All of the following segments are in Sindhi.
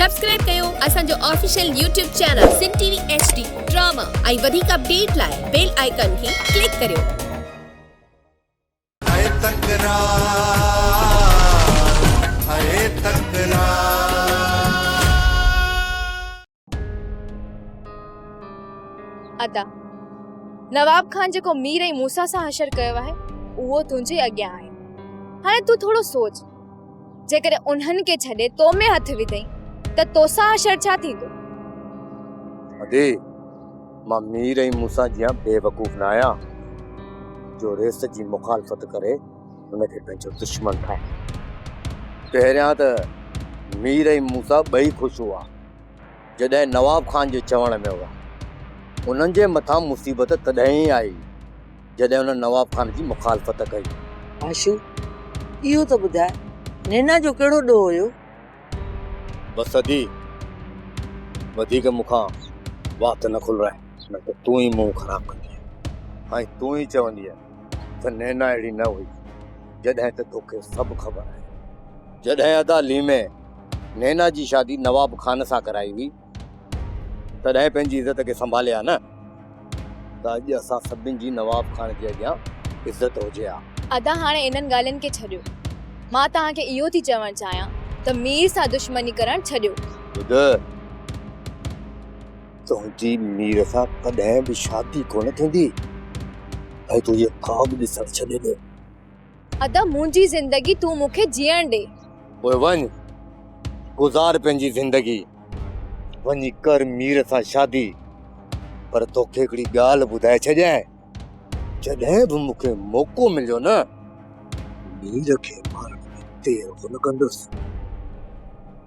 سبسڪرائيب ڪيو اسان جو official YouTube channel Sindh T V H D drama ۽ وڌيڪ اپڊيٽ لاء بيل آئيڪان کي ڪلڪ ڪريو. ھئي تڪرار ھئي تڪرار. ادا نواب خان جيڪو مير ۽ موسيٰ سان حشر ڪيو آهي اهو تنهنجي اڳيان آهي هاڻي تون ٿورو سوچ. جيڪڏهن انهن کي ڇڏي تو ۾ هٿ وڌئين ته توسان حشر ڇا ٿيندو؟ ادي، مان مير ۽ موسيٰ جيان بيوقوف نه آهيان، جو ريس جي مخالفت ڪري ان کي پنهنجو دشمن ٺاهيان. پهريان ته مير ۽ موسيٰ ٻئي خوش هئا، جڏهن نواب خان جي چوڻ ۾ هئا. انهن جي مٿان مصيبت تڏهن ئي آئي، جڏهن هن نواب خان جي مخالفت ڪئي. آشو! اهو ته ٻڌاء نينا جو ڪهڙو ڏوهه هيو؟ بس ادي! وڌيڪ مون کان وات نه کلرائي نه ته تون ئي منهن خراب ڪندينء. ۽ تون ئي چوندينء ته نينا اهڙي نه هئي جڏهن ته توکي سڀ خبر آهي. جڏهن ادا ليمي نينا جي شادي نواب خان سان ڪرائي هئي. تڏهن پنهنجي عزت کي سنڀالي ها نه ته اڄ اسان سڀني جي نواب خان جي اڳيان عزت هجي ها. ادا هاڻي انهن ڳالهين کي ڇڏيو مان توهان کي اهو ٿي چوڻ چاهيان ته مير سان دشمني ڪرڻ ڇڏيو. ٻڌ تنهنجي مير سان ڪڏهن به شادي ڪونه ٿيندي ۽ تون اهي خواب ڏسڻ ڇڏي ڏي. ادا منهنجي زندگي تون مون کي جيئڻ ڏي. پوء وڃ گذار پنهنجي زندگي. وڃي ڪر مير سان شادي. پر توکي هڪڙي ڳالهه ٻڌائي ڇڏيان جڏهن به مون کي موقعو مليو نه مير کي مارڻ ۾ دير ڪونه ڪندس.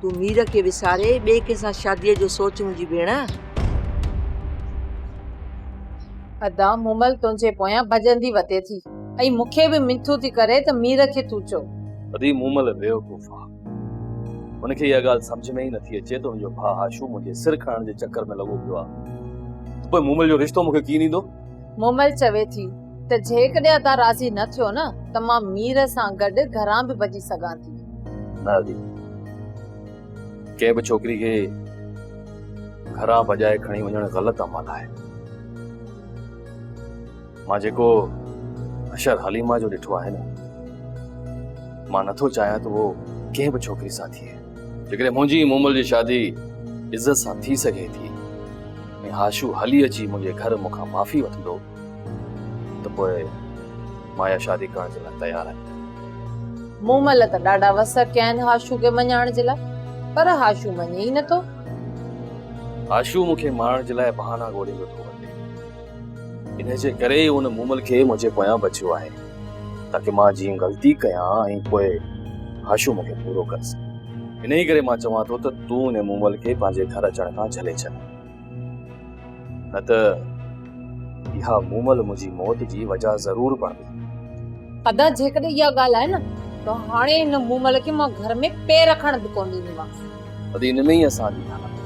تون مير کي وساري ٻئي ڪنهن سان شاديء جو سوچ منهنجي ڀيڻ. ادا مومل تنهنجي پويان ڀڄندي وتي ٿي ۽ مون کي به منٿون ٿي ڪري ته مير کي تون چئو. ادي مومل بيوقوف آ هن کي اها ڳالهه سمجهه ۾ ئي نه ٿي اچي ته هن جو ڀاء هاشو منهنجي سر کڻڻ جي چڪر ۾ لڳو پيو آ ته پوء مومل جو رشتو مون کي ڪيئن ڏيندو. مومل چوي ٿي ته جيڪڏهن ادا راضي نه ٿيو نه ته مان مير سان گڏ گهران به ڀڄي سگهان ٿي. نه ادي، ڪنهن به ڇوڪري کي گهران ڀڄائي کڻي وڃڻ غلط عمل آهي. مان جيڪو حشر حليمه جو ڏٺو آهي نه، مان نٿو چاهيان ته اهو ڪنهن به ڇوڪري سان ٿئي. جيڪڏهن منهنجي ۽ مومل جي شادي عزت سان ٿي سگهي ٿي ۽ هاشو هلي اچي منهنجي گهر مون کان معافي وٺندو ته پوء مان اها شادي ڪرڻ جي لاء تيار آهيان مومل ته ڏاڍا وس ڪيا آهن هاشو کي مڃائڻ جي لاء پر هاشو مڃي ئي نٿو هاشو مون کي مارڻ جي لاء بهانا ڳوليندو ٿو وڃي انهيء جي ڪري ئي ان مومل کي منهنجي پويان بچيو آهي تاڪه مان جيئن غلطي ڪيان ۽ پوء هاشو مون کي پورو ڪري سگهي. انهيء ڪري مان چوان ٿو ته تون ان مومل کي پنهنجي گهر اچڻ کان جهلي ڇڏ. نه ته اها مومل منهنجي موت جي وجهه ضرور بڻبي. ادا جيڪڏهن اها ڳالهه آهي نه ته هاڻي ان مومل کي مان گهر ۾ پير رکڻ به ڪونه ڏيندومانس. ادي ان ۾ ئي اسان جي ڌڻڪ آهي.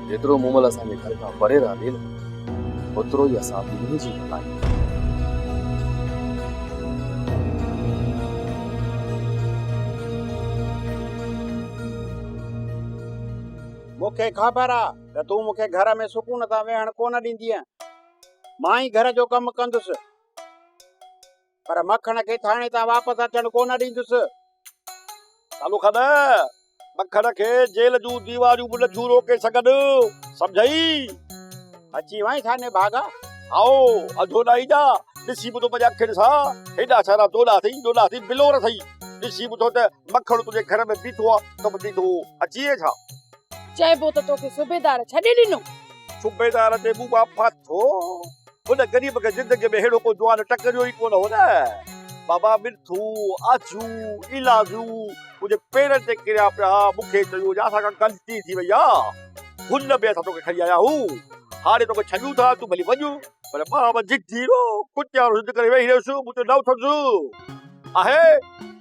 جيترو مومل اسان جي گهر کان پري رهندي نه اوترو ئي اسان ٻنهي جي ڀلائي ٿيندي. مون کي خبر آ ته تون مون کي گهر ۾ سڪون سان ويهڻ ڪونه ڏيندينء. مان ئي گهر جو ڪم ڪندس. پر مکڻ کي ٿاڻي تان واپس اچڻ ڪونه ڏيندس سالو خان مکڻ کي جيل جون ديواريون به نٿيون روڪي سگهن سمجهئي اچي وئين ٿاني ڀاڳا آئو اڌو نه ايجا ڏسي ٻڌو منهنجي اکين سان هيڏا سارا دولا اٿئي ڏولا اٿئي بلور اٿئي ڏسي ٻڌو ته مکڻ تنهنجي گهر ۾ بيٺو آ ته به ڏيندو اچي ڇا چئبو ته توکي صوبيدار ڇڏي ڏنو صوبيدار تي مون مان پاٿو هن غريب کي زندگيء ۾ ههڙو ڪو جوان ٽڪريو ئي ڪونه هو نه! بابا ملٿو، آجو، ايلاجو منهنجي پيرن تي ڪريا پيا ها، مون کي چيو هو ڄا اسان کان غلطي ٿي وئي آ، هن ۾ اسان توکي کڻي آيا هون، هاڻي توکي ڇڏيون ٿا، تون ڀلي وڃ. پر مان به ضدي هيرو، ڪتيارو ضد ڪري ويهي رهيس، مون چيو نه اٿندس. آهي!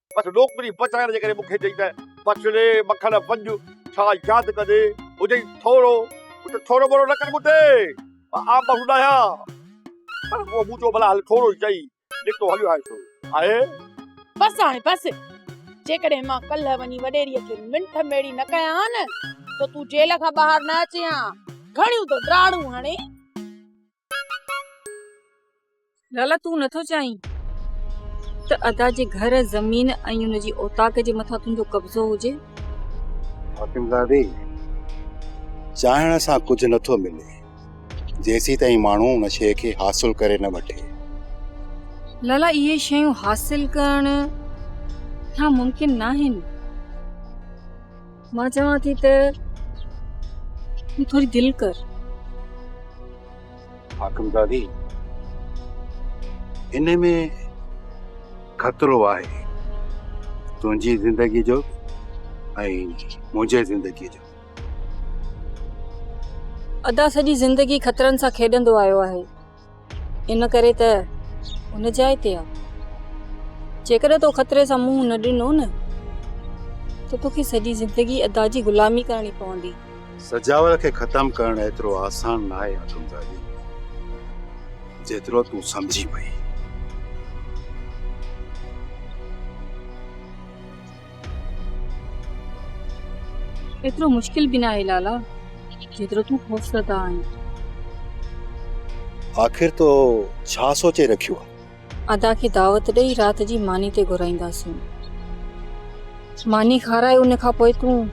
بس نوڪري بچائڻ جي ڪري مون کي چئي ته بڇڙي مکڻ ڀڄ ڇا ياد ڪندي هجئي ٿورو ڪجهه ٿورو ٻورو نه ڪر مون تي مان آن بهون ڏاهيان پر پوء مون چيو ڀلا هل ٿورو ئي چئي نڪتو هليو آهي سو آهي بس هاڻي بس جيڪڏهن مان ڪلهه وڃي وڏيريء کي منٺ ميڙي نه ڪيان ها نه ته تون جيل کان ٻاهر نه اچين ها گهڻيون تو ڊاڙون هڻي لالا تون نٿو چاهين ته ادا جي گهر زمين ۽ ان جي اوطاق جي مٿان تنهنجو قبضو هجي حاڪمزادي چاهڻ سان ڪجهه نٿو ملي جيسي تائين ماڻهو ان شيء کي حاصل ڪري نه وٺي لالا اهي شيون حاصل ڪرڻ ناممڪن ناهن مان چوان ٿي ته تون ٿوري دل ڪر. حاڪم دادي ان ۾ خطرو آهي تنهنجي زندگي جو ۽ منهنجي زندگي جو. ادا سڄي زندگي خطرن سان کيڏندو آيو آهي. ان ڪري ته ان جاء تي آ. جيڪڏهن تو خطري سان منهن نه ڏنو نه ته توکي سڄي زندگي ادا جي غلامي ڪرڻي پوندي. سجاول کي ختم ڪرڻ ايترو آسان ناهي آدمزادي، جيترو تون سمجهي پئي. ايترو مشڪل به ناهي لالا جيترو تون خوفزده آهين. آخر تو ڇا سوچي رکيو آ. ادا کي دعوت ڏئي رات جي ماني تي گهرائينداسين. ماني کارائي ان کان پوء تون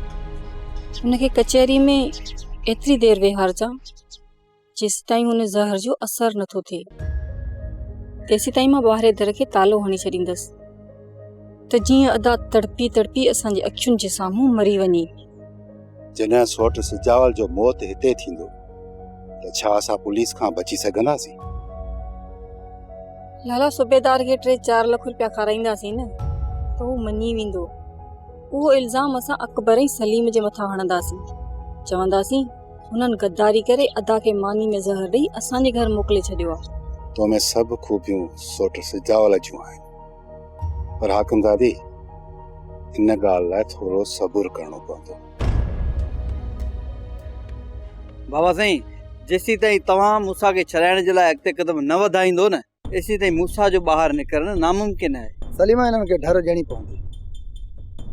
ان کي ڪچهري ۾ ايتري دير ويهارجان. جيسيتائين هن زهر جو اثر نه ٿو ٿئي تيسيتائين مان ٻاهرين در کي تالو هڻي ڇڏيندس ته جيئن ادا تڙپي تڙپي اسان جي اکين جي سامهون مري وڃي. جڏهن سوٽ سجاول جو موت هتي ٿيندو ته ڇا اسان پوليس کان بچي سگهنداسين؟ لالا صوبيدار کي ٽي چار لک روپيا کارائينداسين نه ته هو مڃي ويندو اهو الزام اسان اڪبر ۽ سليم جي مٿان هڻنداسين چونداسين هنن غداري ڪري ادا کي ماني ۾ زهر ڏئي اسان جي گهر موڪلي ڇڏيو آ. تو ۾ سڀ خوبيون سوٽ سجاول جون آهن پر حاڪمزادي ان ڳالهه لاء ٿورو صبر ڪرڻو پوندو. بابا سائين جيسين تائين توهان مون سان کي ڇڏائڻ جي لاء اڳتي قدم نه وڌائيندو نه ايسين تائين موسيٰ جو ٻاهر نڪرڻ ناممڪن آهي. سليمان انهن کي ڍر ڏيڻي پوندي.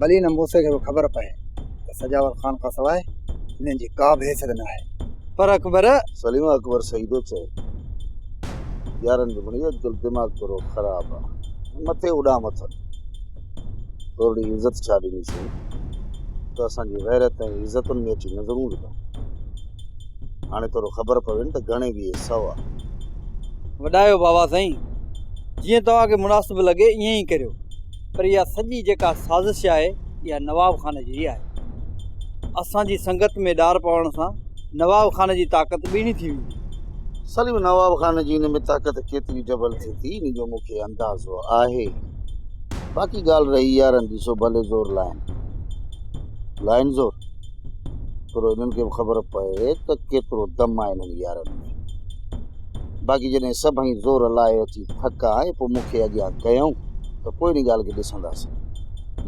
ڀلي هن موسيٰ کي به خبر پئي ته سجاول خان کان سواء هنن جي ڪا به حيثيت نه آهي. پر اڪبر! سليمان اڪبر سئيدو چيو. يارن جمڙي اڄ ڪلهه دماغ تورو خراب آ. مٿي اڏام اٿن. تورڙي عزت ڇا ڏنيسين. ته اسان جي غيرت ۽ عزتن ۾ اچي نظرون وڌن. هاڻي ٿورو خبر پوين ته گهڻي ويهي سو آ. وڏايو بابا سائين جيئن توهان کي مناسب لڳي ائين ئي ڪريو پر اها سڄي جيڪا سازش آهي اها نواب خان جي ئي آهي اسان جي سنگت ۾ ڏار پوڻ سان نواب خان جي طاقت ٻيڻي ٿي ويندي. سليم نواب خان جي ان ۾ طاقت ڪيتري ڊبل ٿي ٿي ان جو مون کي اندازو آهي باقي ڳالهه رهي يارن جي سو ڀلي زور لائين لائين زور. پر انهن کي به خبر پئي ته ڪيترو دم آهي انهن يارن ۾ باقي جڏهن سڀئي زور لائي اچي ٿڪا ۽ پوء مون کي اڳيان ڪيائون ته پوء ان ڳالهه کي ڏسنداسين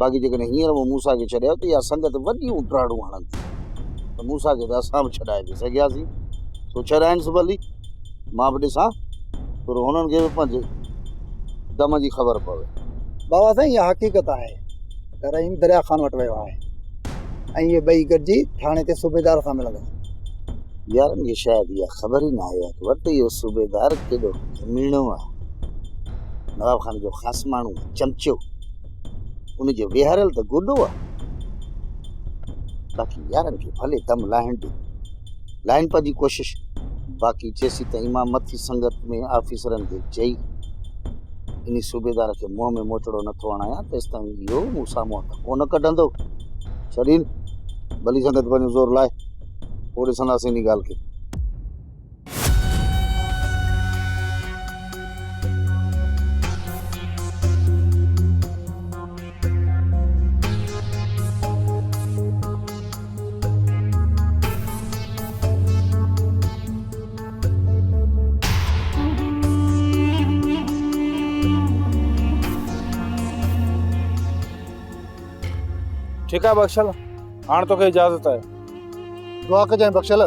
باقي جيڪڏهن هينئر مون موسا کي ڇڏيو ته اها سنگت وڏيون ڊاڙون هڻن ٿي ته موسا کي ته اسان به ڇڏائي پئي سگهياسين سو ڇڏائنس ڀلي مان به ڏسان پر هنن کي به پنهنجي دم جي خبر پوي بابا سائين اها حقيقت آهي رحيم دريا خان وٽ ويو آهي ۽ اهي ٻئي گڏجي ٿاڻي تي صوبيدار سان ملندا. يارن کي شايد اها خبر ئي نه آهي ته ورت اهو صوبيدار ڪيڏو ڪميڻو آهي. نواب خان جو خاص ماڻهو ۽ چمچو. ان جو ويهاريل ته گوڏو آهي. باقي يارن کي ڀلي دم لاهڻ ڏي. لائنپ جي ڪوشش باقي جيسيتائين امام مٿي سنگت ۾ آفيسرن کي چئي انهي صوبيدار کي منهن ۾ موچڙو نٿو هڻايان تيستائين اهو مون سامهون هٿ ڪونه ڪڍندو ڇڏين ڀلي سنگت پنهنجو زور لائي پوء ڏسنداسين انهي ڳالهه کي ٺيڪ آهي بخشل هاڻ توکي اجازت آهي دعا ڪجانء بخشل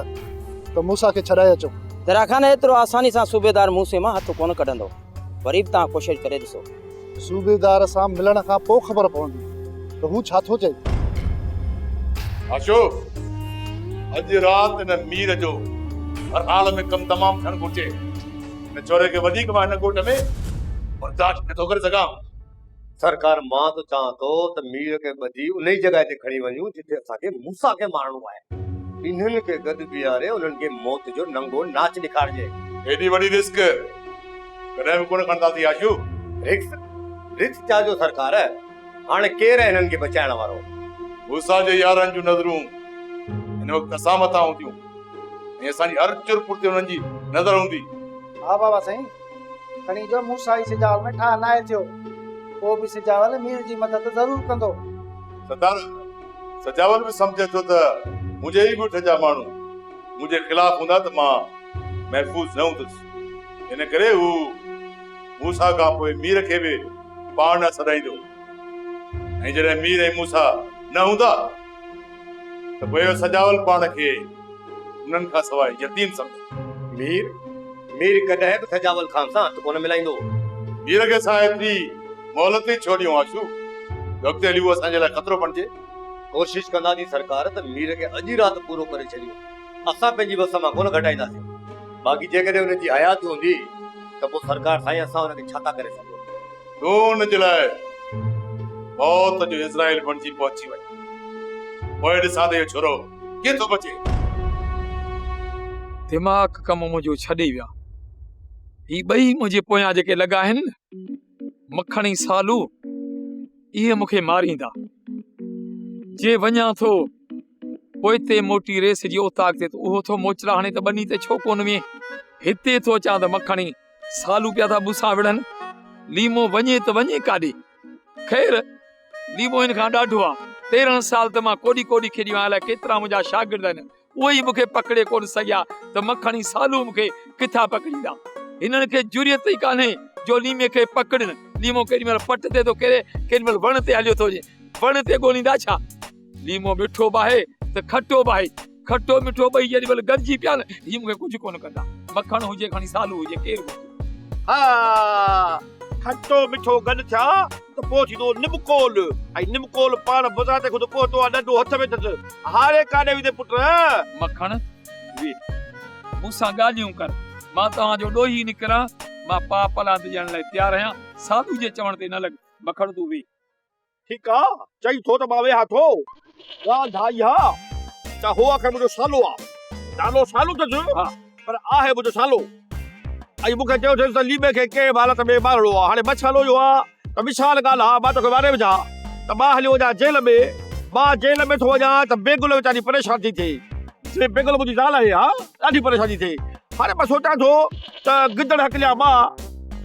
ته موسا کي ڇڏائي اچو درا خان ايترو آساني سان صوبيدار موسي مان هٿ ڪونه ڪڍندو وري به توهان ڪوشش ڪري ڏسو صوبيدار سان ملڻ کان پوء خبر پوندي ته هو ڇا ٿو چئي. آشو! اڄ رات هن مير جو هر حال ۾ ڪم تمام ٿيڻ گهرجي. هن ڇوري کي وڌيڪ مان هن ڳوٺ ۾ برداشت نٿو ڪري سگهان. سرڪار مان ته چوان ٿو ته مير کي ٻڌي انهي جڳهه تي کڻي وڃون جتي اسان کي موسيٰ کي مارڻو آهي. انهن کي گڏ بيهاري انهن کي موت جو ننگو ناچ ڏيکارجي. ايڏي وڏي رسڪ! ڪڏهن به ڪونه کڻنداسين آشو. رڪس رڪس چا جو سرڪار، هاڻي ڪير هنن کي بچائڻ وارو؟ موسيٰ جي يارن جون نظرون هن وقت اسان مٿان هونديون ۽ اسان جي هر چر پور تي هنن جي نظر هوندي. ها بابا سائين، کڻي جو موسيٰ ئي سجاول ۾ ٺاهه ناهي ٿيو، پوء به سجاول مير جي مدد ضرور ڪندو. سردار، سجاول به سمجهي ٿو ته منهنجي ئي ڳوٺ جا ماڻهو منهنجي خلاف هوندا ته مان محفوظ نه هوندس. ان ڪري هو موسيٰ کان پوء مير کي به پاڻ ڏانهن سڏائيندو. ۽ جڏهن مير ۽ موسيٰ نه هوندا ته پوء سجاول پاڻ کي انهن کان سواء يتيم سمجهندو. مير، مير ڪڏهن به سجاول خان سان هٿ ڪونه ملائيندو. مير کي اسان ايتري مهلت ئي ڇو ڏيون آشو، جو اڳتي هلي هو اسان جي لاء خطرو بڻجي. ڪوشش ڪنداسين سرڪار ته مير کي اڄ ئي رات پورو ڪري ڇڏيون. اسان پنهنجي وس مان ڪونه گهٽائينداسين، باقي جيڪڏهن ان جي حيات هوندي ته پوء سرڪار سائين اسان ان کي ڇا ٿا ڪري سگهون. نون جي لاء موت جو عزرائيل بڻجي پهچي وڃ، پوء ڏسان ته اهو ڇورو ڪيئن ٿو بچي. دماغ ڪم منهنجو ڇڏي ويا، هي ٻئي منهنجي پويان جيڪي لڳا آهن نه. مکڻي سالو اهي مون کي ماريندا جي وڃان ٿو پوئتي موٽي ريس جي اوتاق تي اهو ٿو موچرا هاڻي ته ٻني ته ڇو ڪون وين هتي ٿو اچان ته مکڻي سالو پيا ٿا بوسا وڙن ليمو وڃي ته وڃي ڪاڏي خير ليمو ان کان ڏاڍو آ تيرهن سال ته مان ڪوڏي ڪوڏي کيڏيو آهيان الائي ڪيترا منهنجا شاگرد آهن اهي ئي مون کي پڪڙي ڪونه سگهيا ته مکڻي سالو مون کي ڪٿان پڪڙيندا؟ هنن کي جرئت ئي ڪانهي جو ليمي کي پڪڙين. ليمو ڪيڏي مهل پٽ تي ٿو ڪري، ڪيڏي مهل وڻ تي هليو ٿو وڃي. وڻ تي ڳوليندا ڇا؟ ليمو مٺو به آهي ته کٽو به آهي. کٽو مٺو ٻئي جيڏي مهل گڏجي پيا نه، هي مون کي ڪجهه ڪونه ڪندا. مکڻ هجي کڻي سالو هجي ڪير به هجي. ها! کٽو مٺو گڏ ٿيا ته پوء ٿيندو نمڪول ۽ نمڪول پاڻ بذات خود پهتو آهي ڏنڊو هٿ ۾ اٿس هاري ڪاڏي ويندين پٽ. مکڻ، ويھ، مون سان ڳالهيون ڪر، مان توهان جو ڏوهي نڪران، مان پاء پلاند ڏيڻ لاء تيار آهيان، ساڌو جي چوڻ تي نه لڳ، مکڻ تون ويھ. ٺيڪ آ چئين ٿو ته مان ويهان ٿو. ڳالهه ڍا اها ته هو آخر منهنجو سالو آ. نالو سالو اٿس پر آهي منهنجو سالو. ۽ مون کي چيو اٿس ته ليمي کي ڪنهن به حالت ۾ مارڻو آ. هاڻي مسئلو اهو آ ته وشال ڳالهه آ مان توکي ماري وجهان ته مان هليو وڃان جيل ۾. مان جيل ۾ ٿو وڃان ته بيگل ويچاري پريشان ٿي ٿئي. جي بيگل منهنجي زال آهي ها ڏاڍي پريشان ٿي ٿئي. هاڻي مان سوچان ٿو. ته گدڙ هڪليا ٻه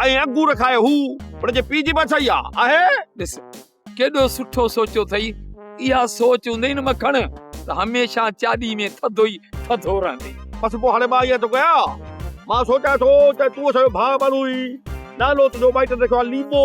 ۽ انگور کائي هو، ان جي پيء جي به اچائي آ آهي. ڏس ڪيڏو سٺو سوچيو اٿئي. اها سوچ هوندئي نه مکڻ ته هميشه چاڏي ۾ ٿڌو ئي ٿڌو رهندين. بس پوء هاڻي مان ائين ٿو ڪيان. مان سوچيان ٿو ته تون اسان جو ڀاء ٻانهو هئين. نالو تنهنجو مائٽن رکيو آ ليمو.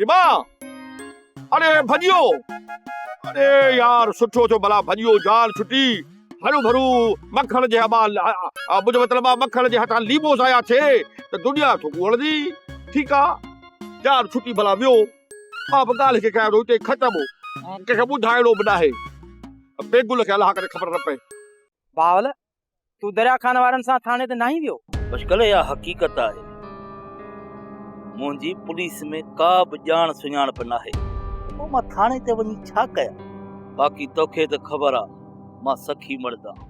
لبا اڙي ڀڄيو اڙي يار سٺو ٿيو بلا ڀڄيو جان ڇٽي هرو ڀرو مکڻ جي ابا مجھو مطلب آ مکڻ جي هٿان ليمو ضايع ٿي ته دنيا ٿو ڳوڙندي ٺيڪ آ جان ڇٽي بلا ويو مان به ڳالهه کي ڪيا روتي ختم ڪنهن کي ٻڌائڻو به ناهي بيگل کي الله ڪري خبر نه پئي باول تون دريا خان وارن سان ٿاڻي تي ناهين ويو؟ بشڪل اها حقيقت آهي. منهنجي پوليس ۾ ڪا به ڄاڻ سڃاڻپ ناهي. پوء مان ٿاڻي تي وڃي ڇا ڪيان؟ باقي توکي ته خبر آ مان سخي مرد آهان.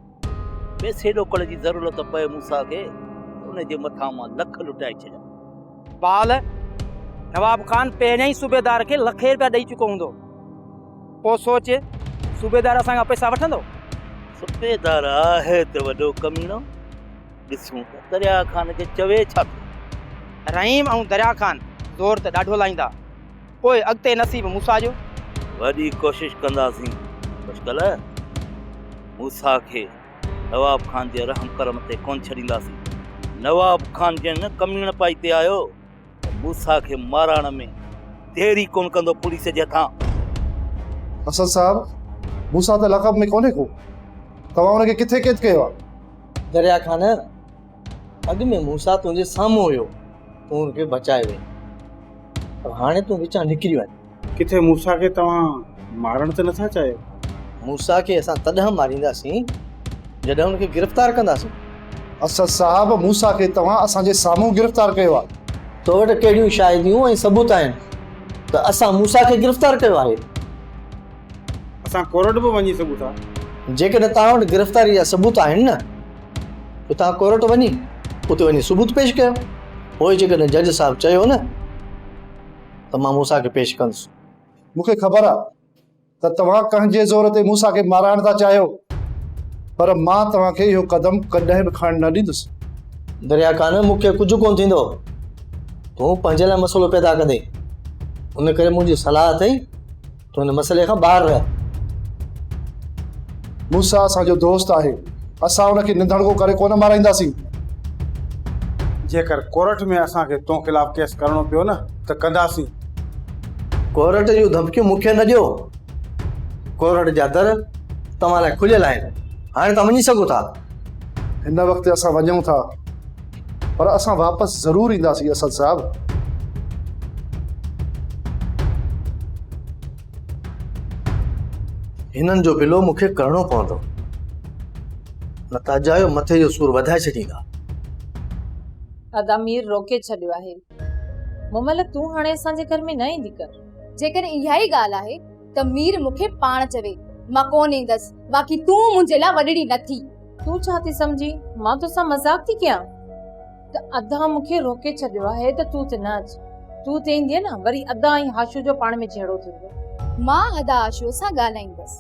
پئسي ڏوڪڙ جي ضرورت پئي موسيٰ کي ته ان جي مٿان مان لک لٽائي ڇڏيان. بال، نواب خان پهريان ئي صوبيدار کي لکين رپيا ڏئي چڪو هوندو. پوء سوچ، صوبيدار اسان کان پئسا وٺندو؟ صوبيدار آهي ته وڏو ڪميڻو، ڏسون ته دريا خان کي چوي ڇا ٿو. رحيم ۽ دريا خان زور ته ڏاڍو لائيندا، پوء اڳتي نصيب موسيٰ جو؟ وڏي ڪوشش ڪنداسين، خوشڪله موسيٰ کي نواب خان جي رحم ڪرم تي ڪونه ڇڏينداسين. نواب خان جنهن ڪميڻپائي تي آيو، موسيٰ کي مارائڻ ۾ دير ئي ڪونه ڪندو پوليس جي هٿان. اسد صاحب، موسيٰ ته لقب ۾ ڪونهي ڪو. توهان ان کي ڪٿي قيد ڪيو آهي؟ دريا خان، اڳ ۾ موسيٰ تنهنجي سامهون هيو، تون ان کي بچايو هئين، پر هاڻي تون وچان نڪريو آهين. ڪٿي موسيٰ کي توهان مارڻ ته نٿا چاهيو؟ موسيٰ کي اسان تڏهن مارينداسين، جڏهن ان کي گرفتار ڪنداسين. اسد صاحب، موسيٰ کي توهان اسان جي سامهون گرفتار ڪيو آهي. تو وٽ ڪهڙيون شاهديون ۽ ثبوت آهن ته اسان موسيٰ کي گرفتار ڪيو آهي؟ اسان ڪورٽ به وڃي سگهون ٿا. جيڪڏهن توهان وٽ گرفتاري جا ثبوت آهن نه، پوء توهان ڪورٽ وڃي، اتي وڃي ثبوت پيش ڪيو. پوء جيڪڏهن جج صاحب چيو نه. ته مان موسيٰ کي پيش ڪندس. مون کي خبر آهي ته توهان ڪنهن جي زور تي موسيٰ کي مارائڻ ٿا چاهيو، پر مان توهان کي اهو قدم ڪڏهن به کڻڻ نه ڏيندس. دريا خان، مون کي ڪجهه ڪونه ٿيندو. تون پنهنجي لاء مسئلو پيدا ڪندين. ان ڪري منهنجي صلاح اٿئي تون هن مسئلي کان ٻاهر رهه. موسيٰ اسان جو دوست آهي، اسان ان کي نڌڻگو ڪري ڪونه مارائينداسين. جيڪر ڪورٽ ۾ اسان کي تو خلاف ڪيس ڪرڻو پيو نه ته ڪنداسين. ڪورٽ جون ڌمڪيون مون کي نه ڏيو. ڪورٽ جا در توهان لاء کليل آهن. هاڻي توهان وڃي سگهو ٿا. هن وقت اسان وڃون ٿا. پر اسان واپس ضرور اينداسين اسد صاحب. هنن جو بلو مون کي ڪرڻو پوندو نه ته اجايو مٿي جو سور وڌائي ڇڏيندا. ادا مير روڪي ڇڏيو آهي. مملڪ تون هاڻي اسان جي گهر ۾ نه ايندي ڪر. جيڪڏهن اها ئي ڳالهه آهي ته مير مون کي پاڻ چوي مان ڪونه ايندس باقي تون منهنجي لاء وڏڙي نه ٿي. تون ڇا ٿي سمجهين مان توسان مذاق ٿي ڪيان ته ادا مون کي روڪي ڇڏيو آهي ته تون ته نه اچ تون ته ايندينء نه وري ادا ۽ هاشو جو پاڻ ۾ جهيڙو ٿيندو. مان ادا هاشو سان ڳالهائيندس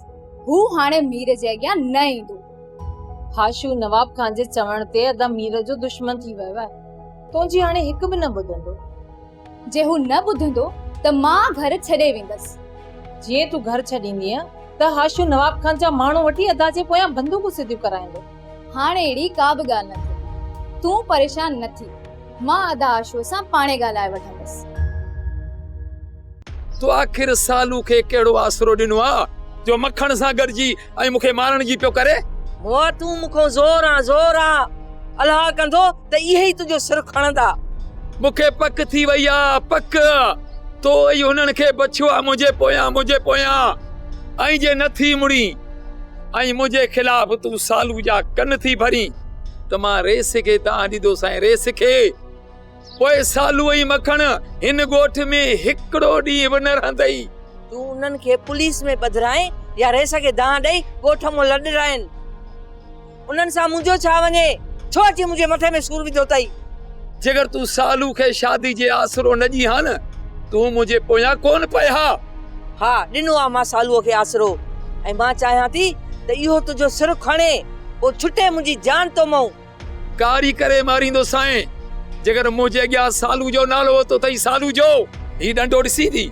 هو هاڻي مير جي اڳيان نه ايندو. هاشو نواب خان جي چوڻ تي ادا مير جو دشمن ٿي ويو آهي تنهنجي هاڻي هڪ به نه ٻڌندو. جي هو نه ٻڌندو ته مان گهر ڇڏي ويندس. جي تون گهر ڇڏيندينء ته هاشو نواب خان جا ماڻهو وٺي ادا جي پويان بندوقون سڌيون ڪرائيندو. هاڻ اهڙي ڪا به ڳالهه نه ٿئي. تون پريشان نه ٿي. مان ادا هاشوء سان پاڻهي ڳالهائي وٺندس. تو آخر سالو کي ڪهڙو آسرو ڏنو آ جو مکڻ سان گڏجي ۽ مون کي مارڻ جي پيو ڪري. مئو تون مون کان زور آن زور آ. الهه ڪندو ته اهي ئي تنهنجو سر کڻندا. مون کي پڪ ٿي وئي آ، پڪ. تو ئي هنن کي بڇيو آ منهنجي پويان، منهنجي پويان. ۽ جي نه ٿي مڙين ۽ منهنجي خلاف تون سالو جا ڪن ٿي ڀرين ته مان ريس کي ته آنديدوس ۽ ريس کي. پوء سالو ۽ مکڻ هن ڳوٺ ۾ هڪڙو ڏينهن به نه رهندئي. تون انهن کي پوليس ۾ ٻڌرائين يا رئيس کي دانهن ڏئي ڳوٺ مون لڏرائين. انهن سان منهنجو ڇا وڃي؟ ڇو اچي منهنجي مٿي ۾ سور وڌو اٿئي؟ جيڪر تون سالو کي شادي جي آسرو نه ڏين ها نه، تون منهنجي پويان ڪونه پئي ها. ها، ڏنو آهي مان سالوء کي آسرو ۽ مان چاهيان ٿي ته اهو تنهنجو سر کڻي، پوء ڇٽي منهنجي جان تو مئون. ڪاري ڪري ماريندو سائين جيڪڏهن منهنجي اڳيان سالو جو نالو وتو ٿئي سالو جو هي ڏنڊو ڏسين ٿي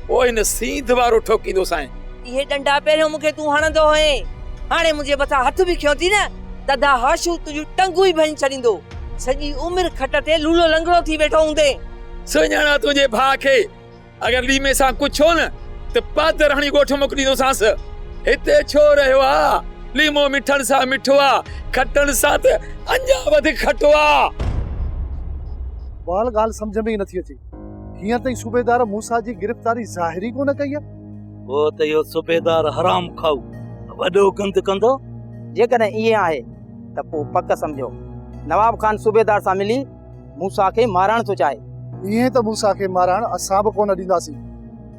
پوء هن سينڌ وارو ٺوڪيندو سائين. اهي ڏنڊا پهريون مون کي تون هڻندو هئين هاڻي منهنجي مٿان هٿ به کنيو ٿي نه تدا هاشو تنهنجون ٽنگون ئي ڀڃي ڇڏيندو سڄي عمر کٽ تي لولو لنگڙو ٿي ويٺو هوندين. سڃاڻان تنهنجي ڀاء کي. اگر ليمي سان ڪجهه ٿيو نه ته پادراڻي ڳوٺ موڪليندوسانس. هتي ڇو رهيو آ؟ ليمو مٺڻ سان مٺو آ، کٽڻ سان ته اڃا وڌيڪ کٽو آ. وال ڳالهه سمجهه ۾ ئي نٿي اچي. هينئر تائين صوبيدار موسيٰ جي گرفتاري ظاهر ئي ڪونه ڪئي آ. پوء ته اهو صوبيدار حرام کائو وڏو گند ڪندو. جيڪڏهن ائين آهي ته پوء پڪ سمجهو نواب خان صوبيدار سان ملي موسيٰ کي مارڻ ٿو چاهي. ائين ته موسيٰ کي مارڻ اسان به ڪونه ڏينداسين.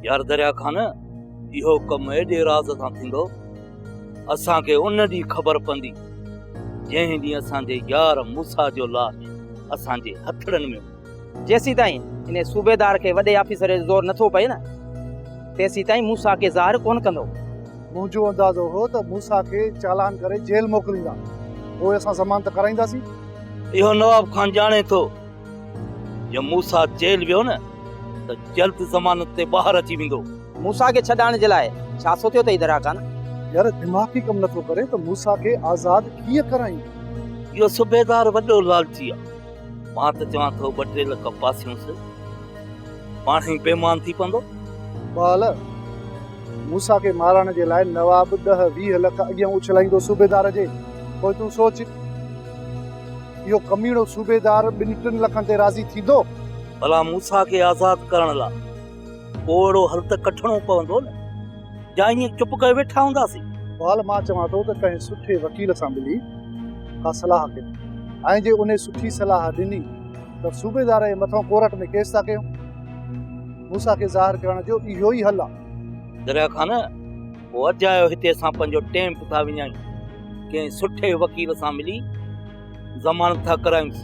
يار درياء خان، اهو ڪم ايڏي راز سان ٿيندو، اسان کي ان ڏينهن خبر پوندي، جنهن ڏينهن اسان جي يار موسيٰ جو لاش اسان جي هٿڙن ۾ هوندو. جيسيتائين انهي صوبيدار کي وڏي آفيسر جو زور نٿو پئي نه، تيسيتائين موسيٰ کي ظاهر ڪونه ڪندو. منهنجو اندازو هو ته موسيٰ کي چالان ڪري جيل موڪليندا، پوء اسان ضمانت ڪرائينداسين. اهو نواب خان ڄاڻي ٿو، جي موسيٰ جيل ويو نه ته جلد ضمانت تي ٻاهر اچي ويندو. موسيٰ کي ڇڏائڻ جي لاء ڇا سوچيو اٿئي دراخان؟ يار دماغ ئي ڪم نٿو ڪري ته موسيٰ کي آزاد ڪيئن ڪرايون؟ اهو صوبيدار وڏو لالچي آهي. مان ته چوان ٿو ٻه ٽي لک پاسيونس پاڻ ئي بيمان ٿي پوندو. بال، موسيٰ کي مارڻ جي لاء نواب ڏهه ويهه لک اڳيان اڇلائيندو صوبيدار جي، پوء تون سوچ، اهو ڪميڻو صوبيدار ٻن ٽن لکن تي راضي ٿيندو؟ ڀلا موسيٰ کي آزاد ڪرڻ لاء پوء اهڙو حل ته ڪڍڻو پوندو نه؟ يا ائين چپ ڪري ويٺا هونداسين؟ اقبال، مان چوان ٿو ته ڪنهن سٺي وڪيل سان ملي ڪا صلاح ڪيون ۽ جي انهي سٺي صلاح ڏني ته صوبيدار جي مٿان ڪورٽ ۾ ڪيس ٿا ڪيون. موسيٰ کي ظاهر ڪرڻ جو اهو ئي حل آهي. دريا خان، پوء اجايو هتي اسان پنهنجو ٽيم به ٿا وڃايون. ڪنهن سٺي وڪيل سان ملي ضمانت ٿا ڪرايونس.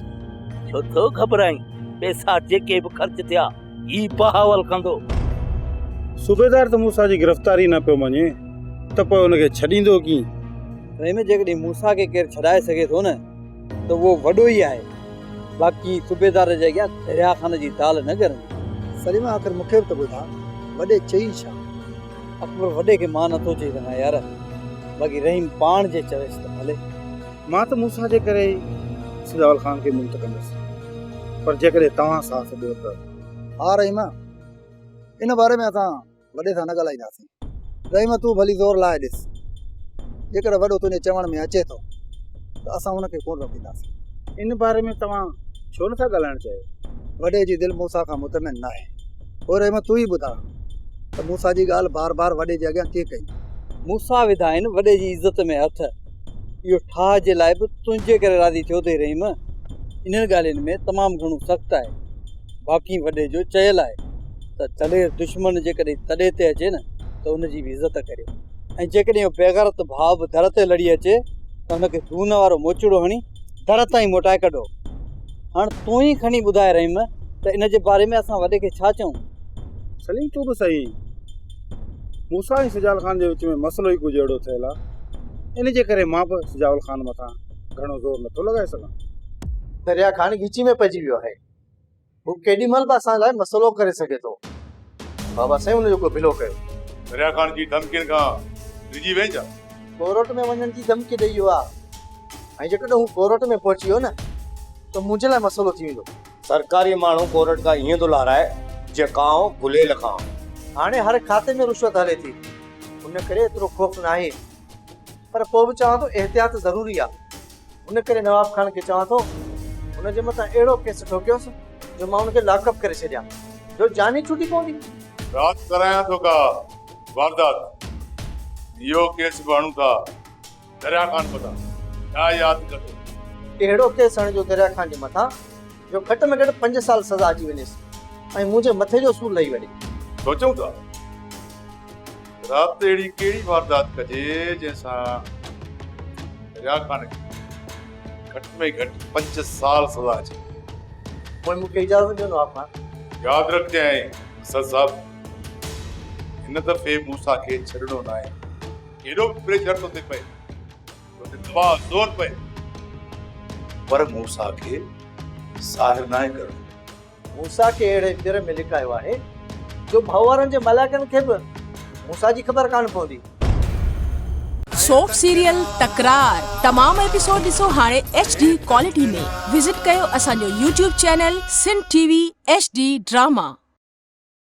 ڇو ٿو گهٻرائين؟ پئسا جيڪي به خرچ ٿيا، ئي بهاول ڪندو. صوبيدار ته موسيٰ جي گرفتاري نه پيو مڃي ته پوء ان کي ڇڏيندو ڪيئن؟ رحيم، جيڪڏهن موسيٰ کي ڪير ڇڏائي سگهي ٿو نه ته اهو وڏو ئي آهي، باقي صوبيدار جي اڳيان دريا خان جي دال نه ڳرندي. سليمان، آخر مون کي به ته ٻڌاء، وڏي چئين ڇا؟ اڪبر، وڏي کي مان نه ٿو چئي سگهان يار، باقي رحيم پاڻ جي چويس ته ڀلي. مان ته موسيٰ جي ڪري ئي سجاول خان کي ملت ڪندس، پر جيڪڏهن توهان ساٿ ڏيو ته. ها رحيم، ان باري ۾ اسان وڏي سان نه ڳالهائينداسين. رحيم تون ڀلي زور لائي ڏس، جيڪڏهن وڏو تنهنجي چوڻ ۾ اچي ٿو ته اسان هن کي ڪونه روڪينداسين. ان باري ۾ توهان ڇو نٿا ڳالهائڻ چاهيو؟ وڏي جي دل موسيٰ کان مطمئن ناهي. پوء رحيم تون ئي ٻڌاء ته موسيٰ جي ڳالهه بار بار وڏي جي اڳيان ڪيئن ڪئي؟ موسيٰ وڌائين وڏي جي عزت ۾ هٿ. اهو ٺاهه جي لاء به تنهنجي ڪري راضي ٿيو اٿئي رحيم. انهن ڳالهين ۾ تمام گهڻو سخت آهي. باقي وڏي جو چيل آهي ته دلير دشمن جيڪڏهن تڏي تي اچي نه ته ان جي به عزت ڪريو ۽ جيڪڏهن اهو بيغرت ڀاء به در تي لڙي اچي ته ان کي دون وارو موچڙو هڻي در تائين موٽائي ڪڍو. هاڻ تون ئي کڻي ٻڌاء رحيم ته ان جي باري ۾ اسان وڏي کي ڇا چئون؟ سليم تون به سهي. موسيٰ ۽ سجال خان جي وچ ۾ مسئلو ئي ڪجهه اهڙو ٿيل آ ان جي ڪري مان به سجال خان مٿان گهڻو زور نٿو لڳائي سگهان. دريا خان ڳچي ۾ پئجي ويو آهي. هو ڪيڏي مهل به اسان لاء مسئلو ڪري سگهي ٿو. بابا سائين ان جو ڪو ڀلو ڪيو. دريا خان جي ڌمڪين کان ڊڄي وئين ڇا؟ ڪورٽ ۾ وڃڻ جي ڌمڪي ڏئي ويو آ ۽ جيڪڏهن هو ڪورٽ ۾ پهچي ويو نه ته منهنجي لاء مسئلو ٿي ويندو. سرڪاري ماڻهو ڪورٽ کان ائين ٿو لارائي جيئن ڪانء گليل کان. هاڻي هر کاتي ۾ رشوت هلي ٿي ان ڪري ايترو خوف ناهي پر پوء به چوان ٿو احتياط ضروري آ ان ڪري نواب خان کي چوان ٿو هن جي مٿان اهڙو ڪيس ٺوڪيوس جو مان ان کي لاڪ اپ ڪري ڇڏيان جو جان ئي ڇٽي پوندي. رات ڪرايان ٿو ڪا واردات اهو ڪيس به هڻون ٿا. دريا خان مداح ڇا ياد ڪندو. ڪهڙو ڪيس هڻجو دريا خان جي مٿان جو گهٽ ۾ گهٽ پنج سال سزا اچي وڃيس ۽ مون جي مٿي جو سور لهي وڃي. سوچون ٿا ته رات اهڙي ڪهڙي واردات ڪجي جنهن سان دريا خان کي گهٽ ۾ گهٽ پنج سال سزا اچي وڃي. پوء مون کي اجازت ڏيو نواب خان. ياد رکجانء اسد صاحب هن دفعي مون سان کي ڇڏڻو ناهي. ڪيڏو به پريشر تو تي پئي تو تي دٻاء زور پئي پر موسيٰ کي ظاهر ناهي ڪرڻو. موسيٰ کي اهڙي پير ۾ لڪايو آهي جو ڀؤنوارن جي ملائڪن کي به موسيٰ جي خبر ڪانه پوندي. سوف سيريل تڪرار تمام ايپيسوڊ ڏسو هاڻي ايڇ ڊي ڪوالٽي ۾ وزٽ ڪيو اسان جو YouTube channel Sindh T V H D drama.